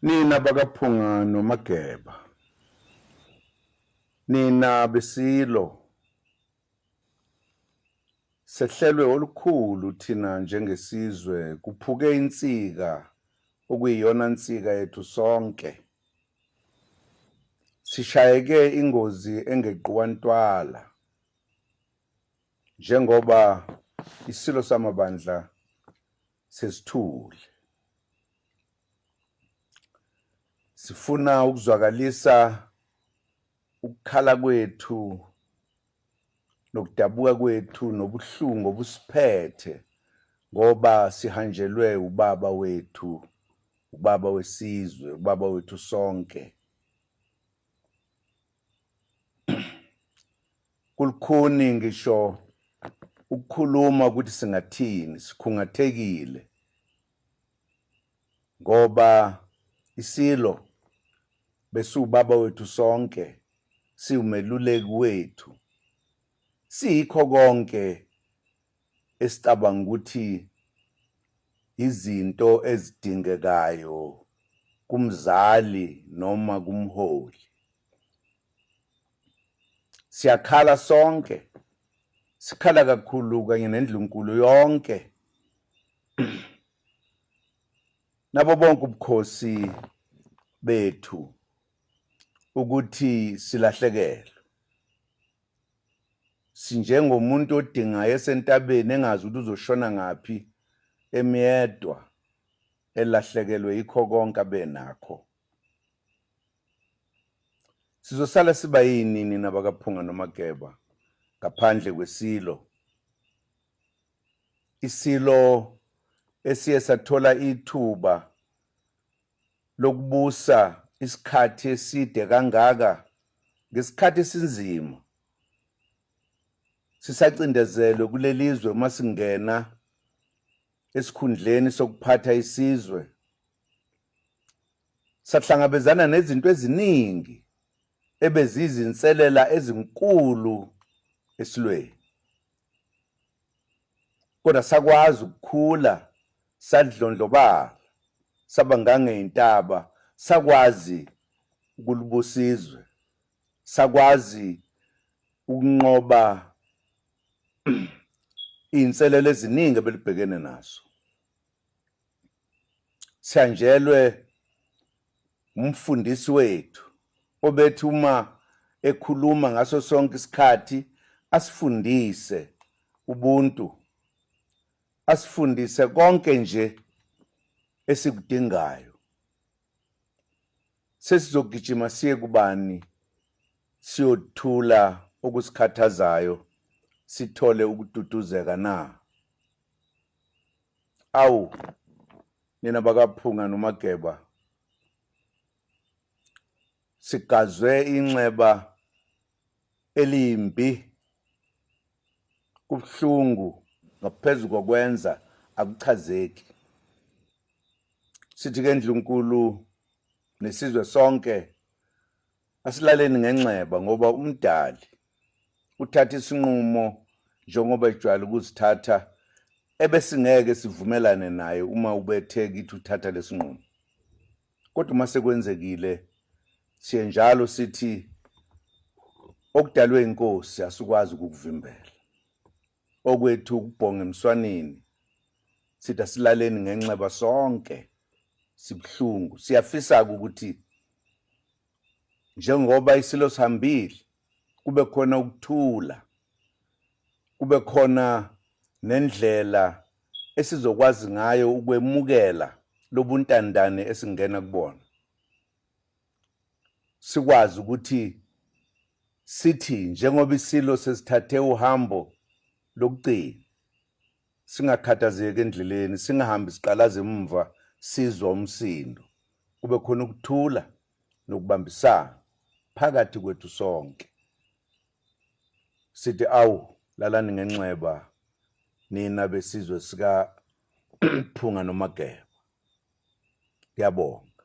Nina bakaPhunga noMageba, nina besilo sehlelwe olukhulu thina njengesizwe kuphuke insika okuyiyona nsika yethu sonke sishayeke ingozi engeqiwa ntwala njengoba isilo samabandla sesithule sifuna ukuzwakalisa ukukhala kwethu nokudabuka kwethu nobuhlungu obusiphethe ngoba sihanjelwe ubaba wethu ubaba wesizwe ubaba wethu sonke kulukhuni ngisho ukukhuluma ukuthi singathini sikhungathekile ngoba isilo besiwubaba wethu sonke siwumeluleki wethu siyikho konke esicabanga ukuthi izinto ezidingekayo kumzali noma kumholi siyakhala sonke sikhala kakhulu kanye nendlunkulu yonke nabo bonke ubukhosi bethu ukuthi silahlekelwe sinjengomuntu odingayo esentabeni engazi ukuthi uzoshona ngaphi emyedwa elahlekelwe yikho konke abenakho sizosala siba yinini nabakaphunga nomageba ngaphandle kwesilo isilo esiye sathola ithuba lokubusa isikhathi eside kangaka ngesikhathi esinzima sisacindezelwe kulelizwe uma singena esikhundleni sokuphatha isizwe sahlangabezana nezinto eziningi ebezizinselela ezinkulu esilweni kodwa sakwazi ukukhula sadlondlobala saba ngangeyintaba sakwazi ukulubusizwe sakwazi ukunqoba iy'nselelo eziningi ebelibhekene nazo sithanjelwe umfundisi wethu obethi uma ekhuluma ngaso sonke isikhathi asifundise ubuntu asifundise konke nje esikudingayo sesizogijima siye kubani siyothula okusikhathazayo sithole ukududuzeka na awu nina bakaphunga nomageba sigazwe inxeba elimbi kubuhlungu ngaphezu kokwenza akuchazeki sithi ke ndlunkulu nesizwe sonke Asilaleni ngenxeba ngoba umdali uthatha isinqumo njengoba ejwayele ukuzithatha ebesingeke sivumelane naye uma ubethe kithi uthatha lesinqumo kodwa uma sekwenzekile siye njalo sithi okudalwe inkosi asikwazi ukukuvimbela okwethu ukubhonga emswaneni sithi asilaleni ngenxeba sonke sibuhlungu siyafisa-ke ukuthi njengoba isilo sihambile kube khona ukuthula kube khona nendlela esizokwazi ngayo ukwemukela lobuntandane esingena kubona sikwazi ukuthi sithi njengoba isilo sesithathe uhambo lokugcina singakhathazeki endleleni singahambi siqalaza emumva sizwa umsindo kube khona ukuthula nokubambisana phakathi kwethu sonke sithi awu lalani ngenxeba nina besizwe sika Phunga noMageba. Ngiyabonga.